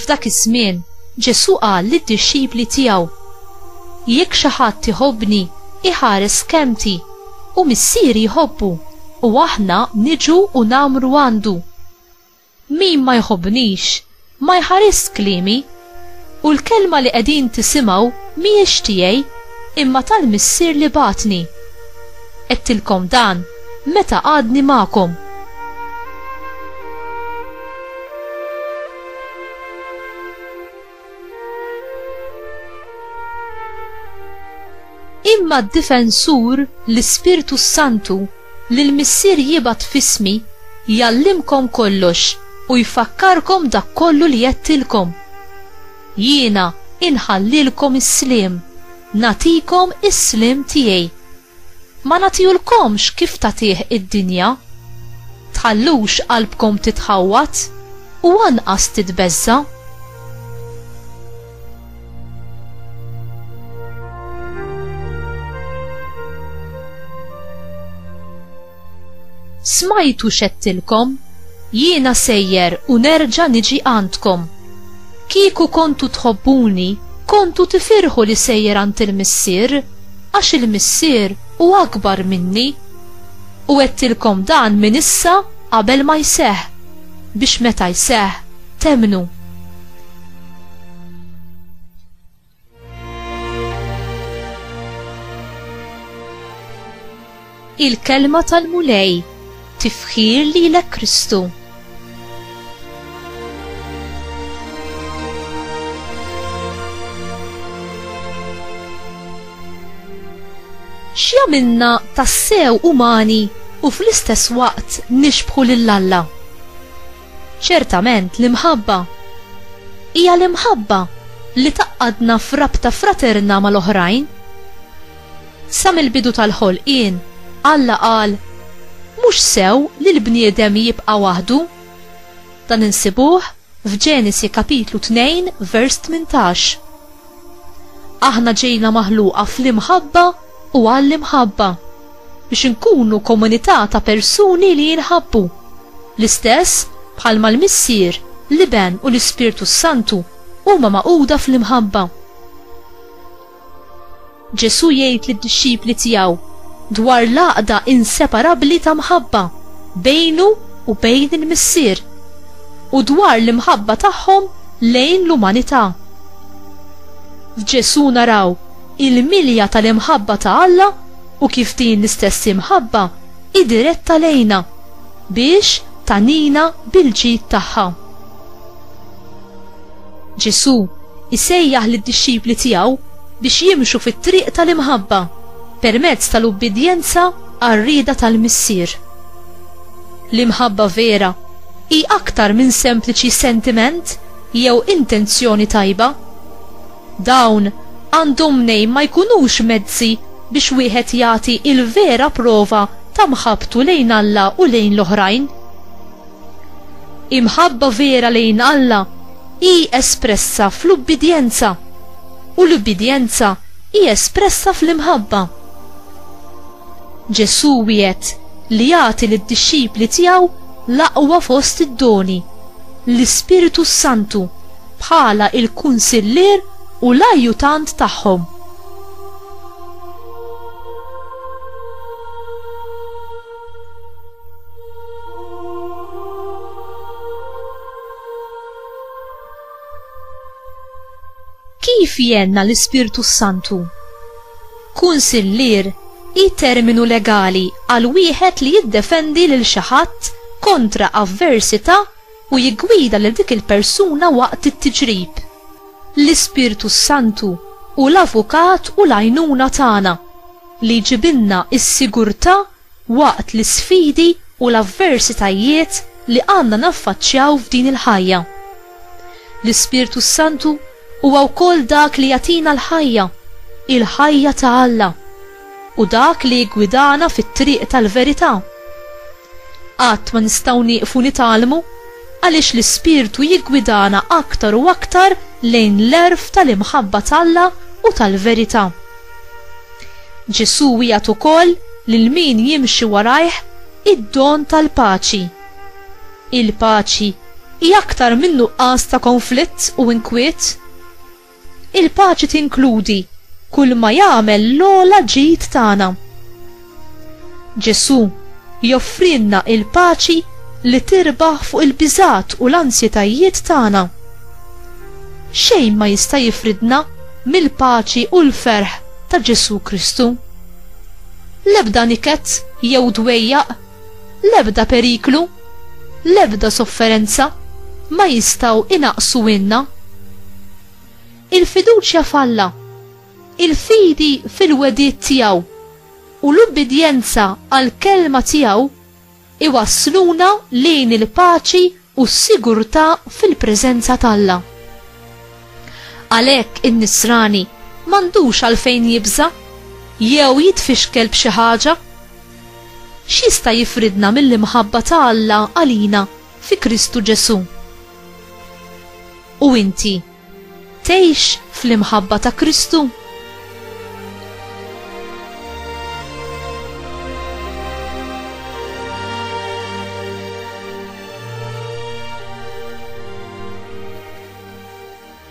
F'dak iż-żmien, Ġesù qal lid-dixxipli tiegħu, Jekk xi ħadd iħobbni, iħares kelmti, u Missieri jħobbu, u aħna niġu u ngħammru għandu. Min ma jħobbnix, ma jħarisx kliemi, u l-kelma li qegħdin tisimgħu mhijiex tiegħi, imma tal-Missier li bagħatni. Għedtilkom dan meta għadni magħkom. Imma d-Difensur, l-Ispirtu s-Santu, li l-Missier jibgħat f'ismi, jgħallimkom kollox u jfakkarkom dak kollu li għedtilkom. Jiena inħallilkom is-sliem, nagħtikom is-sliem tiegħi. Ma nagħtihulkomx kif tagħtih id-dinja. Tħallux qalbkom titħawwad, u anqas titbeżża'. Smajtu x'għedtilkom, jiena sejjer u nerġa' niġi għandkom. Kieku kontu tħobbuni, kontu tifirħu li sejjer għand il-Missier, għax il-Missier hu akbar minni. U għedtilkom dan minn issa qabel ma jseħħ, biex meta jseħħ, temmnu. Il-kelma tal-Mulej tifħir lilek Kristu. X'jagħmilna tassew umani u fl-istess waqt nixbħu lil Alla? Ċertament l-imħabba hija l-imħabba li tgħaqqadna f'rabta fraterna mal-oħrajn. Sa mill-bidu tal-ħolqien, Alla qal, Mhux sew li l-bniedem jibqa' waħdu. Dan insibuh f'Ġenesi kapitlu 2 vers 18. Aħna ġejna maħluqa fl-imħabba u għall-imħabba, biex inkunu komunità ta' persuni li jinħabbu, l-istess bħalma l-Missier, l-Iben u l-Ispirtu s-Santu huma magħquda fl-imħabba. Ġesù jgħid lid-dixxipli tiegħu dwar l-għaqda inseparabbli ta' mħabba bejnu u bejn il-Missier u dwar l-imħabba tagħhom lejn l-umanità. F'Ġesù naraw il-milja tal-imħabba ta' Alla u kif din l-istess imħabba hi diretta lejna biex tagħnina bil-ġid tagħha. Ġesù jsejjaħ lid-dixxipli tiegħu biex jimxu fit-triq tal-imħabba permezz tal-ubbidjenza għar-rieda tal-Missier. L-imħabba vera hi aktar minn sempliċi sentiment jew intenzjoni tajba. Dawn għandhom mnejn ma jkunux mezzi biex wieħed jagħti l-vera prova ta' mħabbtu lejn Alla u lejn l-oħrajn. Imħabba vera lejn Alla hi espressa fl-ubbidjenza, u l-ubbidjenza hi espressa fl-imħabba. Ġesù wiegħed li jagħti lid-dixxipli tiegħu l-aqwa fost id-doni, l-Ispirtu s-Santu, bħala l-kunsillier u l-ajjutant tagħhom. Kif jenna l-Ispirtu Santu? Kunsillier i terminu legali għal wieħed li jiddefendi lil xi ħadd kontra avversità u jiggwida lil dik il-persuna waqt it-tiġrib. L-Ispirtu s-Santu hu l-avukat u l-għajnuna tagħna, li jġibilna s-sigurtà waqt l-isfidi u l-avversitajiet li għandna naffaċċjaw f'din il-ħajja. L-Ispirtu s-Santu huwa wkoll dak li jagħtina l-ħajja, il-ħajja ta' Alla. Hu dak li jiggwidana fit-triq tal-verità. Qatt ma nistgħu nieqfu nitgħallmu, għaliex l-Ispirtu jiggwidana aktar u aktar lejn l-għerf tal-imħabba t'Alla u tal-verità. Ġesù wiegħed ukoll lil min jimxi warajh id-don tal-paċi. Il-paċi hi aktar minn nuqqas ta' konflitt u inkwiet. Il-paċi tinkludi kulma jagħmel l-ogħla ġid tagħna. Ġesù joffrilna il-paċi li tirbaħ fuq il-biżgħat u l-ansjetajiet tagħna. Xejn ma jista' jifridna mill-paċi u l-ferħ ta' Ġesù Kristu. L-ebda niket jew dwejjaq L-ebda periklu, l-ebda sofferenza ma jistgħu inaqqsu inna. Il-fiduċja f'Alla, il-fidi fil-wegħdiet tiegħu u l-ubbidjenza għall-kelma tiegħu iwassluna lejn il-paċi u s-sigurtà fil-preżenza t'Alla. Għalhekk in-nisrani m'għandux għalfejn jibża' jew jitfixkel b'xi ħaġa. X'jista' jifridna mill-imħabba ta' Alla għalina fi Kristu Ġesù? U inti? Tgħix fl-imħabba ta' Kristu?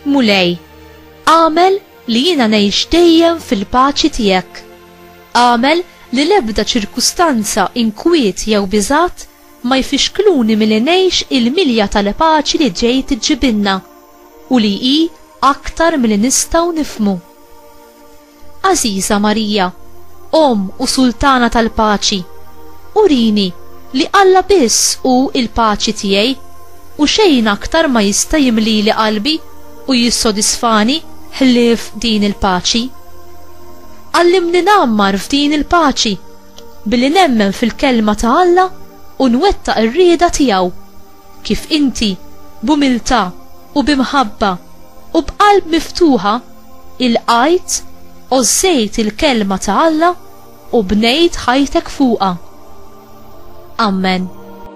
Mulej, għamel li jiena ngħix dejjem fil-paċi tiegħek. Għamel li l-ebda ċirkustanza inkwiet jew biżgħat ma jfixkluni milli ngħix il-milja tal-paċi li ġej tiġġibilna u li hi aktar milli nistgħu nifhmu. Għażiża Marija, Omm u Sultana tal-Paċi, urini li Alla biss hu l-paċi tiegħi u xejn aktar ma jista' jimlili qalbi u jissodisfani ħlief din il-paċi. Għallimni ngħammar f'din il-paċi, Billi nemmen fil-Kelma ta' Alla u nwettaq ir-rieda tiegħu. Kif inti, b'umiltà u bi mħabba u b'qalb miftuħa, ilqajt, għożżejt il-Kelma ta' Alla u bnejt ħajtek fuqha. Amen.